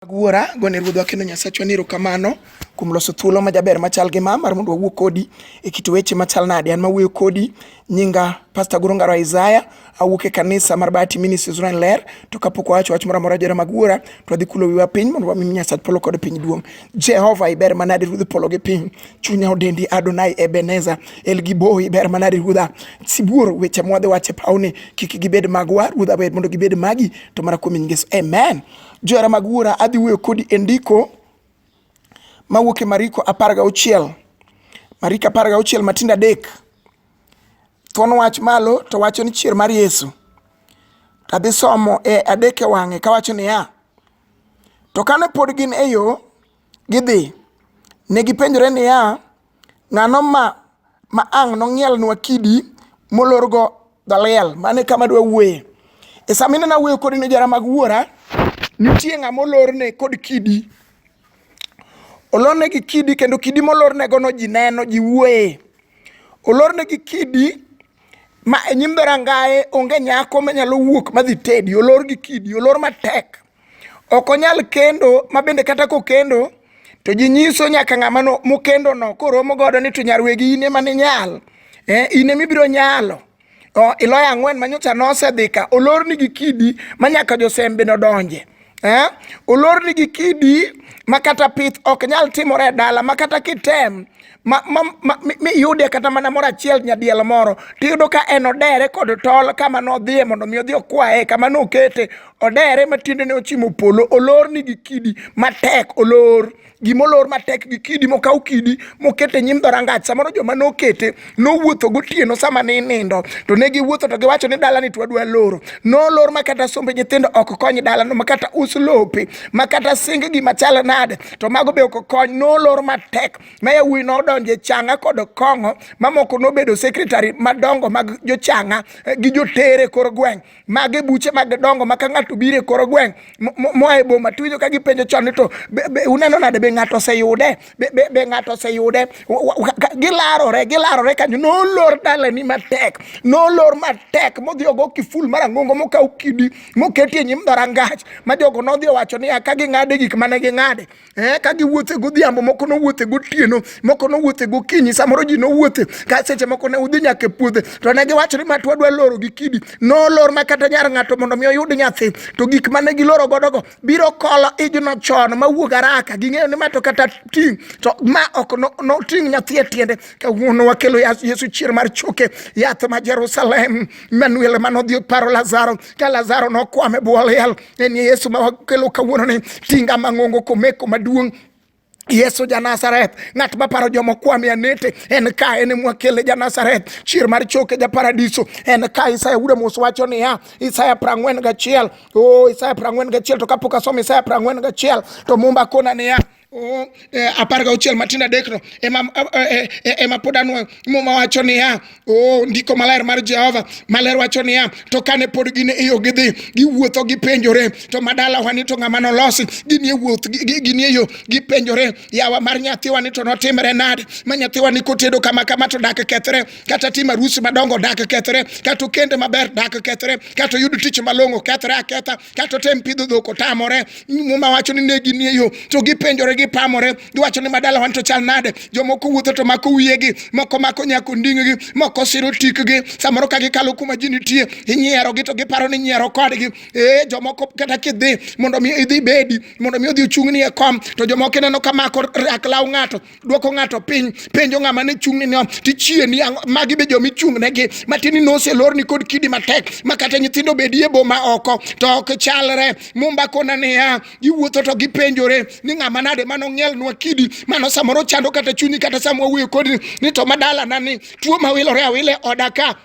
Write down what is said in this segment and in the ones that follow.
Mag wuora, gone Ruodhwa kendo Nyasachwa ni erokamano kuom loso thuolo ma jaber machal gi ma mar mondo wawuo kodi e kit weche machal nade. An mawuoyo kodi nyinga Pastor Goro Ngaro Isaiah, awuok e kanisa mar Bahati Ministries Rweny Ler, to kapok wawacho wach moro amora jora mag wuora, to wadhi kulo wiwa piny mondo wami Nyasach polo kod piny duong'. Jehova iber manade Ruodh polo gi piny. chunya odendi Adonai Ebeneza El Giboi ber manade ruodha sibuor weche mwadhi wache pawni kik gibed magwa ruodha ber mondo gibed magi to mana kuom Yesu amen johera mag wuora adhi wuoyo kodi e ndiko mawuok e Mariko apar gauchiel Mariko apar gauchiel matindo adek thuon wach malo to wacho ni chier mar Yesu to adhi somo e adek e wang'e kawacho niya to kane pod gin e yo Gidhi. Ne gipenjore niya, Ng'ano ma ma ang' nong'ielnwa kidi molorgo dhaliel? Mane kama dwa wuoye. E sama ineno awuoyo kodi ne jara mag wuora, nitie ng'ama olorne kod kidi. Olorne gi kidi kendo kidi molornegono ji neno, ji wuoye. Olorne gi kidi ma e nyim dhorangaye onge nyako manyalo wuok madhi tedi. Olor gi kidi, olor matek. ok onyal kendo ma bende kata kokendo to ji nyiso nyaka ng'ama mokendo no koromo godo ni to nyarwegi in ema ninyal eh, in ema ibiro nyalo oh, iloyo ang'wen ma nyocha nosedhi ka olorni gi kidi ma nyaka josembe nodonje eh, olorni gi kidi ma kata pith ok nyal timore e dala ma kata kitem ma, ma, ma, miyude kata mana moro achiel nyadiel moro tiyudo ka en odere kod tol kama nodhiye mondo mi odhi okwaye kama nokete odere ma tiendene ochimo polo olor ni gi kidi matek olor gimolor matek gi kidi mokaw kidi mokete nyim dhorangach samoro joma nokete nowuotho gotieno sama ne inindo to ne giwuotho to giwacho ni dalani to wadwa loro nolor ma kata sombe nyithindo ok kony dalano ma kata us lope ma kata sing gima chal nade to mago be ok kony nolor matek ma yawuoyi nodonjo e changa kod kong'o mamoko nobedo sekretari madongo mag jochanga eh, gi jotere kor gweng' mage buche mag dongo ma ka ng'ato biro e kor gweng' moa e boma tuwinjo ka gipenjo chon ni to uneno nade be ng'ato oseyude be ng'ato oseyude gilarore gilarore kanyo nolor dalani matek nolor matek modhi ogo kiful mar ang'ongo mokaw kidi moketie nyim dhorangach ma jogo nodhi owacho niya ka ging'ade gik mane ging'ade Eh, ka giwuothe godhiambo moko nowuothe gotieno moko nowuothe gokinyi samoro ji nowuothe ka seche moko ne udhi nyaka e puodhe to ne giwacho ni ma twadwa loro gi kidi nolor ma kata nyar ng'ato mondo mi oyud nyathi to gik mane giloro godogo biro kolo ijno chon mawuog araka ging'eyo ni ma to kata ting' to ma ok noting' no nyathi e tiende kawuono wakelo yesu chier mar choke yath ma jerusalem manuel manodhi paro lazaro ka Lazaro nokwamo e bwo liel, en Yesu ma wakelo kawuononi, tinga mang'ongo komeko maduong' Yesu ja Nazareth, ng'at ma paro joma kwame anete, en ka en mwakele ja Nazareth, chier mar choke ja paradiso, en ka Isaya wuda mos wacho niya, Isaya prang'wen gachiel, oh Isaya prang'wen gachiel, to kapok asomo Isaya prang'wen gachiel, to mumba kona niya, Oh, eh, apar gauchiel matindo adekno ema eh, eh, ema pod anwoyo muma wacho niya oh, ndiko maler mar jehova maler wacho niya to kane pod gin e yo gidhi giwuotho gipenjore to madalawa ni to ng'ama nolosi gini e wuoth gini e yo gipenjore yawa mar nyathiwa ni to notimre nade ma nyathiwa ni kotedo kama kama to dak kethre kata tim arusi madongo dak kethre kata okende maber dak kethre kata oyud tich malong'o kethre aketha kato tem pidho dhok otamore muma wacho ni negi nie yo to gipenjore gipamore giwacho ni madala wan to chal nade jomoko wuotho to mako wiyegi moko mako nyako nding'gi moko siro tikgi samoro ka gikalo kuma ji nitie inyierogi to giparo ni nyiero kodgi ee jomoko kata kidhi mondo mi idhi bedi mondo mi odhi ochung'ni e kom to jomoko ineno ka mako rak law ng'ato dwoko ng'ato piny penjo ng'ama ne chung'ne ni tichie ni magi be jomi chung'negi matini noselorni kod kidi matek ma kata nyithindo bedie boma oko to ok chalre mumba kona niya giwuotho to gipenjore ni ng'ama nade mano ng'ielnwa kidi mano samoro chando kata chunyi kata sama wawuoyo kodi ni to madalana ni tuo mawilore awile oda ka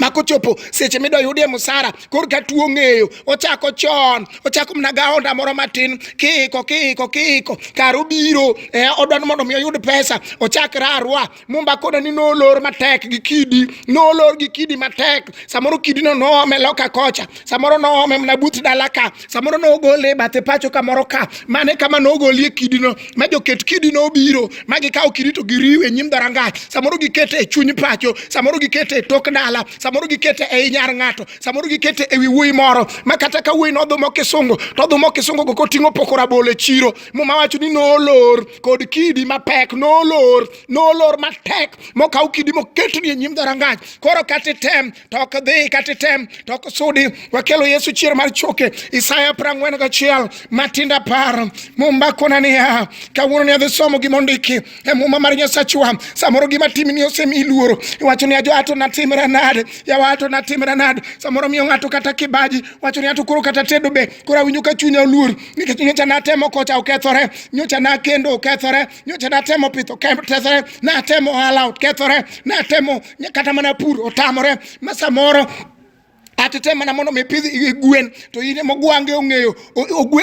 ma kochopo seche midwa yudie musara kor ka tuo ng'eyo ochako chon ochako mana gaonda moro matin kiiko kiiko kiiko kar obiro eh, odwa ni mondo mi oyud pesa ochak rarwa mumba koda ni nolor matek gi kidi nolor gi kidi matek samoro kidino noome loka kocha samoro noome mana but dala ka samoro nogole e bathe pacho kamoro ka mane kama nogolie kidino ma joket kidino obiro ma gikawo kidi to giriwe nyim dharangach samoro gikete e chuny pacho samoro gikete e tok dala samoro gikete e inyar ng'ato samoro gikete e wi wuoyi moro ma kata ka wuoyi nodhumo kisungu to odhumo kisungu go koting'o poko rabolo e chiro muma wacho ni nolor kod kidi mapek nolor nolor matek mokaw kidi moketni e nyim dharangach koro kata item to ok dhi kata item to ok sudi wakelo yesu chier mar choke isaya prang'wen gachiel matinda par mumba kona niya kawuono ni adhi somo gima ondiki e muma mar nyasachwa samoro gima timni osemi luoro iwacho ni ajo ato natimra nade yawa ato natimra nade samoro miyo ng'ato kata kibaji wacho ni ato koro kata tedo be koro awinjo ka chunya oluor nikech nyocha natemo kocha okethore nyocha nakendo okethore nyocha natemo pith okethore natemo ohala okethore natemo kata mana pur otamore ma samoro atete mana mondo mi pidh gwen to in ema ogwange ong'eyo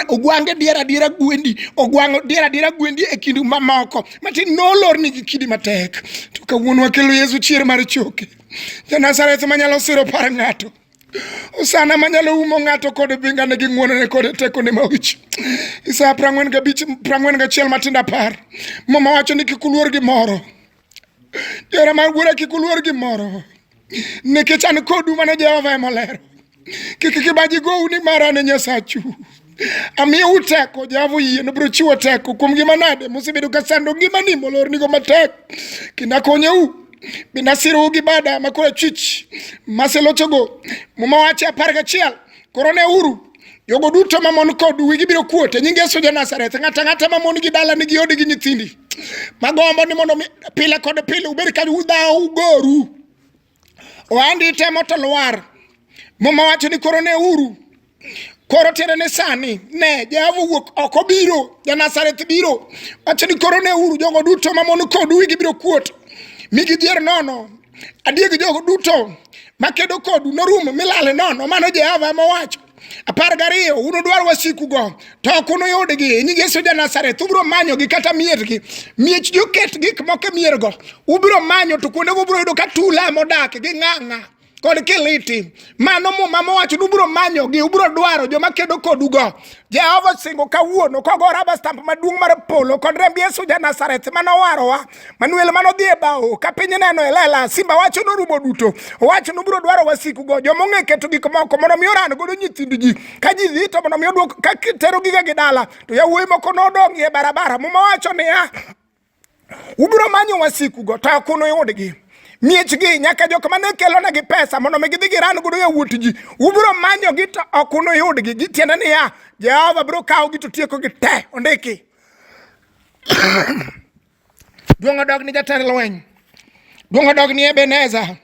ogwange dier adiera gwendi ogwango dier adiera gwendi e kindu mamoko matin nolorni gi kidi matek to kawuono wakelo yesu chier mar choke janazareth manyalo siro par ng'ato osana manyalo umo ng'ato kod bingane gi ng'wonone kod tekone mawich isaya prang'wen gabich prang'wen gachiel matindo apar mama wacho ni kik uluor gi moro Jera mar wuora kik uluor gimoro nikech an kodu mana Jehova ema olero. Kik kibaji gowu ni mara ne Nyasachu. Amiyo uteko Jehova oyie nobiro chiwo teko kuom gima nade musebedo ka sando ngimani molornigo matek kendo akonyou bende asirou gi bada makoro achwich maselochogo muma wache apar gachiel koro ne uru jogo duto mamon kod wigi biro kuot e nying Yesu ja Nazareth. Ng'ata ng'ata mamon gi dala nigi odi gi nyithindi magombo ni mondo pile kod pile ubed ka udhawo ugoru ohandi temo to lwar muma wacho ni koro ne uru koro tiende ni sani ne Jehova wuok oko biro ja Nazareth biro wacho ni koro ne uru jogo duto mamon kod wigi biro kuot mi gidhier nono adier gi jogo duto makedo kodu norumo milale nono mano jehova mowacho apar gariyo unudwar wasikugo to ok unuyudgi nying yesu ja nazareth ubiro manyogi kata miergi miech joket gik moko e miergo ubiro manyo to kuondego ubiro yudo ka tula modak gi ng'ang'a kod kiliti mano muma mowacho ni ubiro manyogi ubiro dwaro joma kedo kodugo jehova osingo kawuono kogora bastamp maduong' mar polo kod remb yesu ja nazareth manowarowa Manuel mano dhi e bao ka piny neno e lela simba wacho norumo duto owacho nobiro dwaro wasiku go joma ong'e keto gik moko mondo mi oran godo nyithind ji ka ji dhi to mondo mi odwok ka tero giga gi dala to yawuoyi moko nodong' e barabara muma wacho niya ubiro manyo wasiku go to ok unuyudgi miechgi nyaka jok mane kelonegi pesa mondo mi gidhi giran godo yawuot ji ubiro manyogi to ok unuyudgi gitiende niya jehova biro kawogi to tiekogi te ondiki Duong' odog ni jatend lweny, duong' odog ni Ebeneza.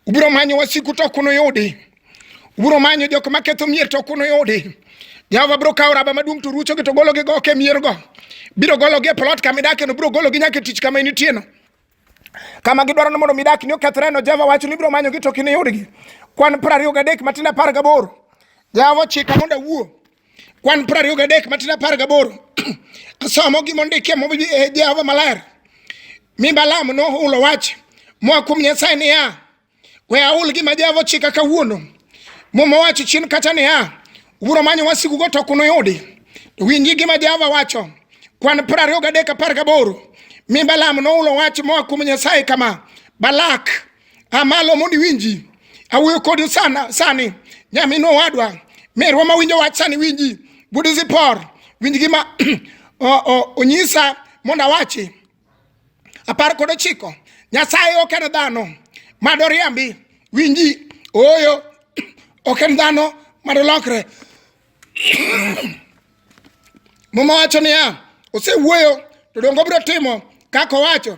Ubiro manyo wasiku to ok unuyudi, ubiro manyo jok ma ketho mier to ok unuyudi. Jehova biro kawo raba maduong' to ruchogi to gologi go ok e miergo, biro gologi e plot kama idakeno, biro gologi nyaka e tich kama initieno kama gidwaro ni mondo mi dak ni okethreno Jehova wacho ni biro manyogi to kiniyudgi. Kwan piero ariyo gadek matindo apar gaboro Jehova ochika mondo awuo Kwan piero ariyo gadek matin apar gaboro asomo gima ondikie mobi e Jehova maler. Mi Balaam nohulo wach moa kuom Nyasaye niya, we ahul gima Jehova ochika kawuono. Muma owacho chien kacha niya, ubiro manyo wasikugo to ok unuyudi. To winji gima Jehova wacho. Kwan piero ariyo gadek apar gaboro mi Balaam nohulo wach moa kuom Nyasaye kama, Balak amalo mondo iwinji awuoyo kodi sana sani nyamin owadwa merwa ma winjo wach sani winji budizi por winj gima onyisa mondo awachi apar kod ochiko nyasaye ok en dhano mado riambi winji ooyo ok en dhano mado lokre muma wacho niya osewuoyo to dongo biro timo kaka owacho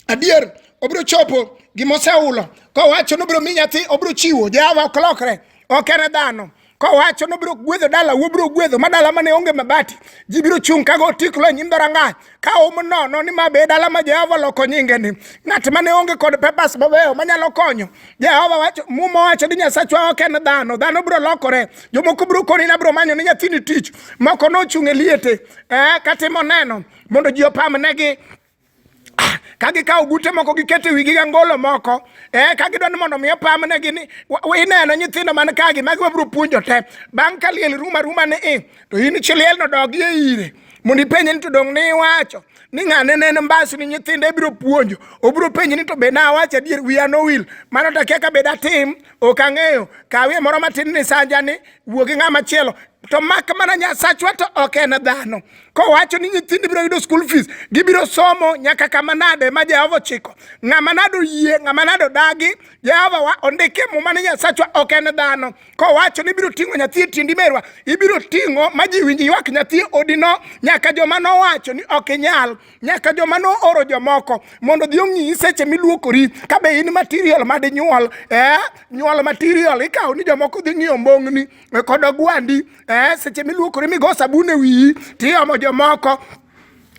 adier obiro chopo gima osehulo kowacho nobiro mi nyathi obiro chiwo jehova ok lokre ok en dhano kowacho nobiro gwedho dala wobiro gwedho ma dala mane onge mabati ji biro chung' kago otiklo e nyim dhorangach ka um nono ni ma be dala ma jehova oloko nyingeni ng'at mane onge kod pepas mabeyo manyalo konyo jehova wacho muma wacho ni nyasachwa ok en dhano dhano biro lokore jomoko biro koni na biro manyo ni nyathini tich moko nochung' e liete eh, katimo neno mondo ji opamnegi ah, ka gikawo ogute moko giketo e wigi gi angolo moko eh, ka gidwa ni mondo mi opamnegi ni ineno nyithindo man kagi magi wabiro puonjo te bang' ka liel ruma ruma ni i to in chiliel no dogi e ire mondo ipenje ni to dong' ni iwacho ni ng'ane ne en mbasi ni nyithindo ibiro puonjo obiro penje ni to be nawacho adier wiya nowil mano to akia ka be datim ok ang'eyo kawie moro matin ni sanja ni wuo gi ng'ama chielo to mak mana nyasachwa to ok en dhano kowacho ni nyithindo biro yudo school fees gibiro somo nyaka kama nade ma Jehova ochiko ng'ama nado yie ng'ama nado dagi Jehova wa ondike muma ni Nyasachwa ok en dhano kowacho ni ibiro ting'o nyathi e tindi merwa ibiro ting'o ma ji winji ywak nyathi odino nyaka joma nowacho ni ok inyal nyaka joma nooro jomoko mondo dhi ong'i seche miluokori ka be in material madinyuol eh nyuol material ikawo ni jomoko dhi ng'iyo mbong'ni e, kod ogwandi eh, seche miluokori migo sabun e wiyi tiomo jomoko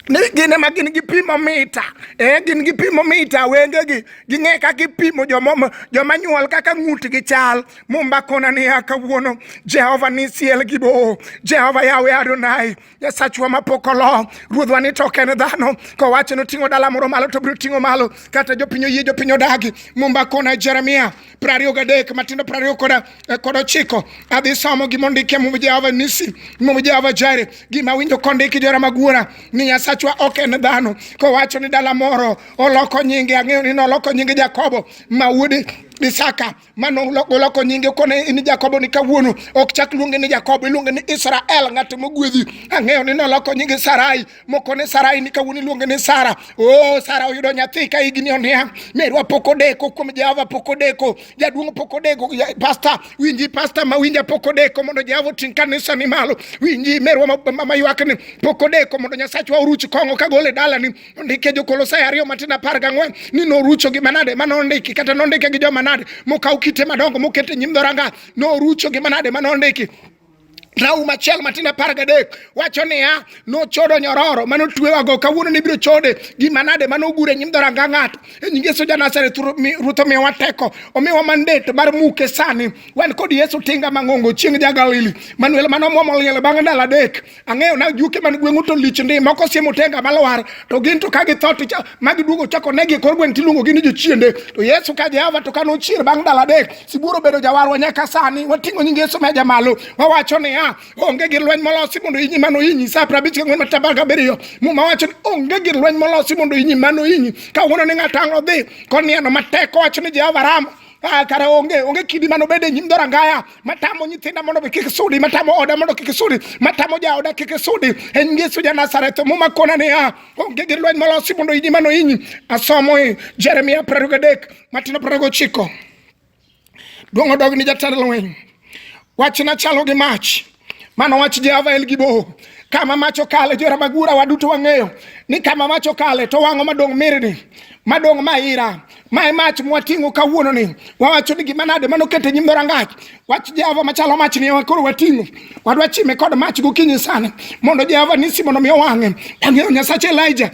ni gin ema gin gi pimo mita eh, gin gi pimo mita wengegi ging'e kaka ipimo joma nyuol kaka ng'utgi chal mumbakona niya kawuono jehova ni siel gi boo jehova yawe adonai Nyasachwa mapok olo ruodhwa ni to ok en dhano kowacho ni oting'o dala moro malo to biro ting'o malo kata jopiny oyie jopiny odagi mumba kona Jeremia prariyo gadek matindo prariyo kod eh, kod ochiko adhi somo gima ondike mumb Jehova Nisi mumb Jehova Jire gima winjo kondiki jora magwora ni Nyasachwa ok en dhano kowacho ni dala moro oloko nyinge ang'eyo ni noloko nyinge Jakobo ma wuod Isaka mano goloko nyinge kone in Jakobo ni kawuono ok chak luonge ni Jakobo iluonge ni Israel ng'at mogwedhi ang'eyo ni noloko nyinge Sarai mokone Sarai ni kawuono iluonge ni Sara oh Sara oyudo nyathi ka higni oniang' merwa pok odeko kuom Jehova pok odeko jaduong' pok odeko pasta winji pasta ma winja pok odeko mondo Jehova oting' kanisa ni malo winji merwa ma ywakni pok odeko mondo Nyasachwa oruch kong'o kagole dalani Ndike Jokolosai ariyo matin apar gang'wen ni norucho gi manade ma nondiki kata nondike gi joma nade mokaw kite madongo mokete nyim dhoranga norucho gi manade ma nondiki Rauma achiel matin apar gadek wacho niya, nochodo nyororo mane otwewago kawuono ni biro chode gi manade mane ogure nyim dhoranga ng'ato. E nying Yesu Janazareth, Ruoth omiyowa teko, omiyowa mandate mar muke sani. Wan kod Yesu tinga mang'ongo chieng' ja Galili, Manuel mane omwomo liel bang' ndalo adek. ang'eyo na juke man gweng'u to lich ndi moko siemo tenga malwar to gin to ka githo to ma giduogo chako negi e kor gweng' tiluongo gi ni jochiende to yesu ka jehova to ka nochier bang' dala adek sibuoro bedo jawarwa nyaka sani wating'o nying yesu meja malo wawacho niya onge gir lweny molosi mondo inyi mano inyi sa apar abich kang'wen mataba gabiriyo muma wacho ni onge gir lweny molosi mondo inyi mano inyi ka wuono ni ng'ato ang' odhi konieno matek owacho ni jehova ramo Ah, kara onge onge kidi mano bede nyim dora ngaya matamo nyithinda mondo be kik sudi matamo oda mondo kik sudi matamo ja oda kik sudi en Yesu ja Nazareth muma kona ne ah, onge gi lweny molosi mondo inyi mano inyi asomo e Jeremia 23 matino 29 duong odog ni jatend lweny wachna chalo gi mach Mano wach Jehova en gi boho kama mach okale jora magura waduto wang'eyo ni kama mach okale to wang'o madong' mirni madong' maira ma e mach mwating'o kawuono ni wawacho ni gima nade mano kete nyim dhorangach wach jehova machalo mach ni ewa koro wating'o wadwa chime kod mach gokinyi sana mondo jehova nisi mondo mi owang'e wang'eyo nyasache elija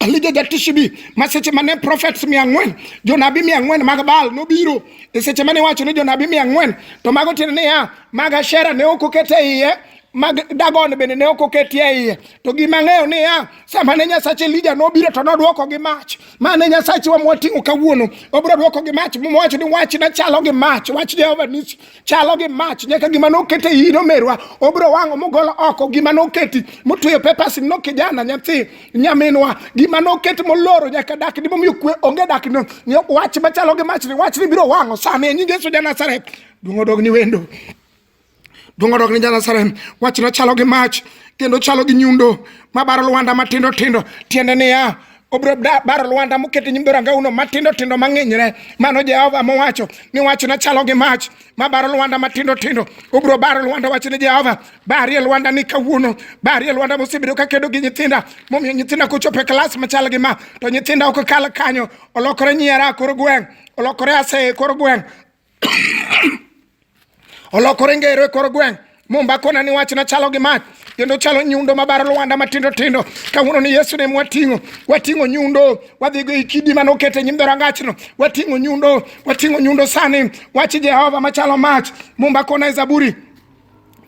Alija jatishibi ma seche mane prophets mia ang'wen jonabi mia ang'wen mag Baal nobiro e seche mane wacho ni jonabi mia ang'wen to mago tiende niya mag Ashera ne ok oket e iye mag Dagon bende ne ok oketie e iye to gima ng'eyo niya sama ne Nyasach Elija nobiro to nodwoko gi mach ma ne Nyasachwa mwating'o kawuono obiro dwoko gi mach mowacho ni wachna chalo gi mach wach Jehova Nisi chalo gi mach nyaka gima nokete iyi nomerwa obro wang'o mogolo oko gima noketi motweyo pepas no kijana nyathi nyaminwa gima noket moloro nyaka dak ni momiyo kwe onge dak no wach machalo gi mach ni wach ni biro wang'o sani e nying Yesu ja Nazareth duong' odog ni wendo duong' odog ni ja Nazareth wach no chalo gi mach kendo chalo gi nyundo mabaro lwanda matindo tindo tiende niya obiro baro lwanda moket e nyim dho rangauno matindo tindo mang'inyre mano jehova mowacho ni wachna chalo gi mach ma baro lwanda matindo tindo obiro baro lwanda wach ni jehova barie lwanda ni kawuono barie lwanda mosebedo ka kedo gi nyithinda momiyo nyithinda kochopo e klas machal gi ma to nyithinda ok kal kanyo olokore nyiera kor gweng' olokore aseye kor gweng' olokore ngero e kor gweng' mumba kona ni wachna chalo gi mach kendo chalo nyundo mabaro lwanda matindo tindo kawuono ni yesu ne mwating'o wating'o nyundo wadhigo i kidi mane oket e nyim dhorangachno wating'o nyundo wating'o nyundo sani wach jehova machalo mach mumba kona e zaburi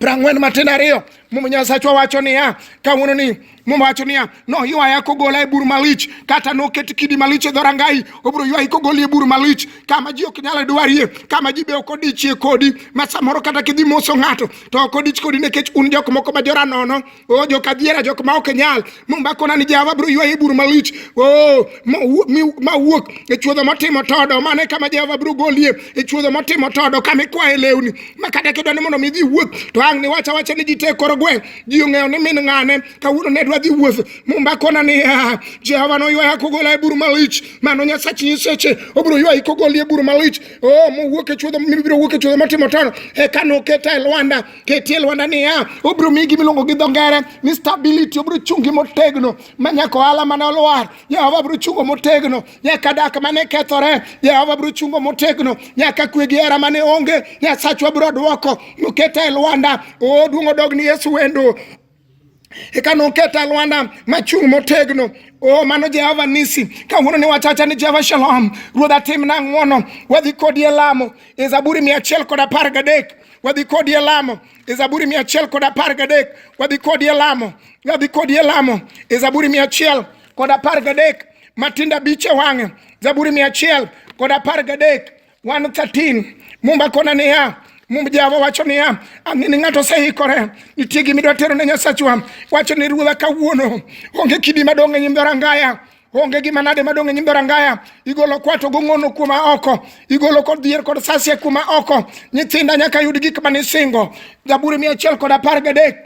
prang'wen matin ariyo muma nyasachwa wacho niya kawuono ni muma wacho niya noywaya kogola e bur malich kata noket kidi malich e dhorangai obiro ywayi kogoli e bur malich kama ji ok nyal dwarie kama ji be ok odichie kodi ma samoro kata kidhi moso ng'ato to ok odich kodi nikech un jok moko ma jora nono Oh, jok adiera jok ma ok nyal mombakona ni jawa bro ywaye bur malich oh, ma wuok e chuodho motimo todo mane kama jawa bro golie e chuodho motimo todo kama ikwaye lewni ma kata kidwa ni mondo mi dhi wuoth to ang' ni wacha wacha ni ji te koro gweng' ji ong'eyo ni min ng'ane kawuono ne dwa dhi wuoth mombakona ni ah, jehova noywaya kogola e bur malich mano nyasach nyiseche obiro ywayi kogolie bur malich oh, mowuok e chuodho mibiro wuok e chuodho motimo todo eka noketa e lwanda ketie lwanda niya obiro migi miluongo gi dho ngere ni stability obiro chungi motegno ma nyaka ohala mane olwar jehova biro chungo motegno nyaka dak mane kethore jehova biro chungo motegno nyaka kwe gi hera mane onge nyasachwa biro dwoko noketa e lwanda oduong' odog ni yesu wendo eka noket alwanda machung' motegno o oh, mano jehova nisi kawuono ni wachacha ni jehova shalom ruodh atimna ng'wono wadhi kodi e lamo e zaburi mia achiel kod apar gadek wadhi kodi e lamo e zaburi mia achiel kod apar gadek wadhi kodi e lamo wadhi kodi e lamo e zaburi mia achiel kod apar gadek matindo abich e wang'e zaburi mia achiel kod apar gadek 113 mumba kona niya mum java wacho niya ang'e ni ng'ato oseikore nitie gima idwa tero ne nyasachwa wacho ni ruodha kawuono onge kidi madong' e nyim dhorangaya onge gima nade madong' e nyim dhorangaya igolo kwato gong'ono kuma oko igolo kod dhier kod sasie kuma oko nyithinda nyaka yud gik manisingo zaburi mia achiel kod apar gadek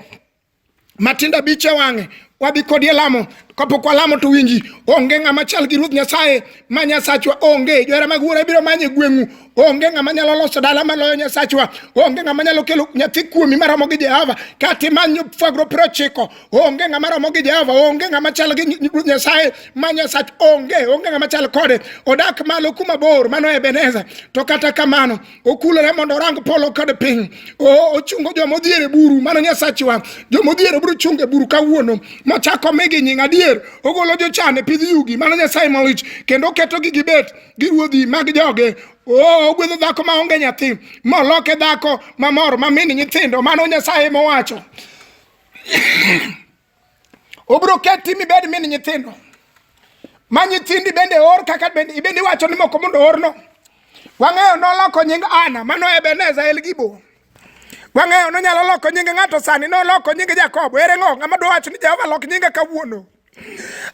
matindo abich e wang'e wabi kodi e lamo kapok walamo to winji onge ng'ama chal gi ruoth nyasaye ma nyasachwa onge johera mag wuora biro manye gweng'u onge ng'ama nyalo loso dala maloyo nyasachwa onge ng'ama nyalo kelo nyathi kuomi maromo gi jehova kata imany fwagro piero ochiko onge ng'ama romo gi jehova onge ng'ama chal gi ruoth nyasaye ma nyasach onge onge ng'ama chal kode odak malo kuma bor mano ebeneza to kata kamano okulore mondo orang polo kod piny ochungo joma odhier e buru mano nyasachwa joma odhier e buru chungo e buru kawuono mochako migi nying adier ogolo jochan e pidh yugi mano nyasaye malich kendo oketogi gibet gi ruodhi mag joge Oh, ogwedho dhako ma onge nyathi moloke dhako mamor mamini nyithindo mano nyasaye mowacho Ubiro keti mibed min nyithindo ma nyithindi bende or kaka bende ibende iwacho ni moko mondo orno. Wang'eyo noloko nying Ana mano Ebeneza Elgibo. Wang'eyo nonyalo loko nying ng'ato sani noloko nying Jakobo. Ere ng'o ng'ama dwa wacho ni Jehova lok nyinga kawuono?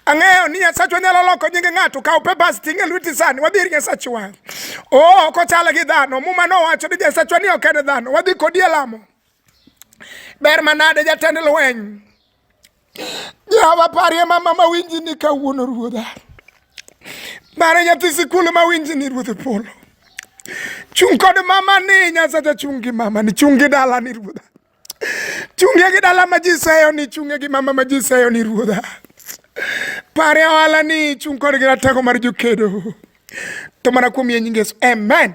Ang'eyo ni Nyasachwa nyalo loko nyinge ng'ato kaw papers ting' e lweti sani wadhi ir Nyasachwa. Oo, ok ochal gi dhano. Muma nowacho ni Nyasachwa ni ok en dhano. Wadhi kodi e lamo. Ber manade jatend lweny. Jehova parie mama mawinji ni kawuono ruodha. Mare nyathi sikul mawinji ni ruodh polo. Chung' kod mama ni Nyasacha chung' gi mama ni chung' gi dala ni ruodha. Chunge gi dala ma ji seyo ni chunge gi mama ma ji seyo ni ruodha. Pare ohala ni chung' kod gi ratego mar jokedo. To mana kuom yie nyingesu. Amen.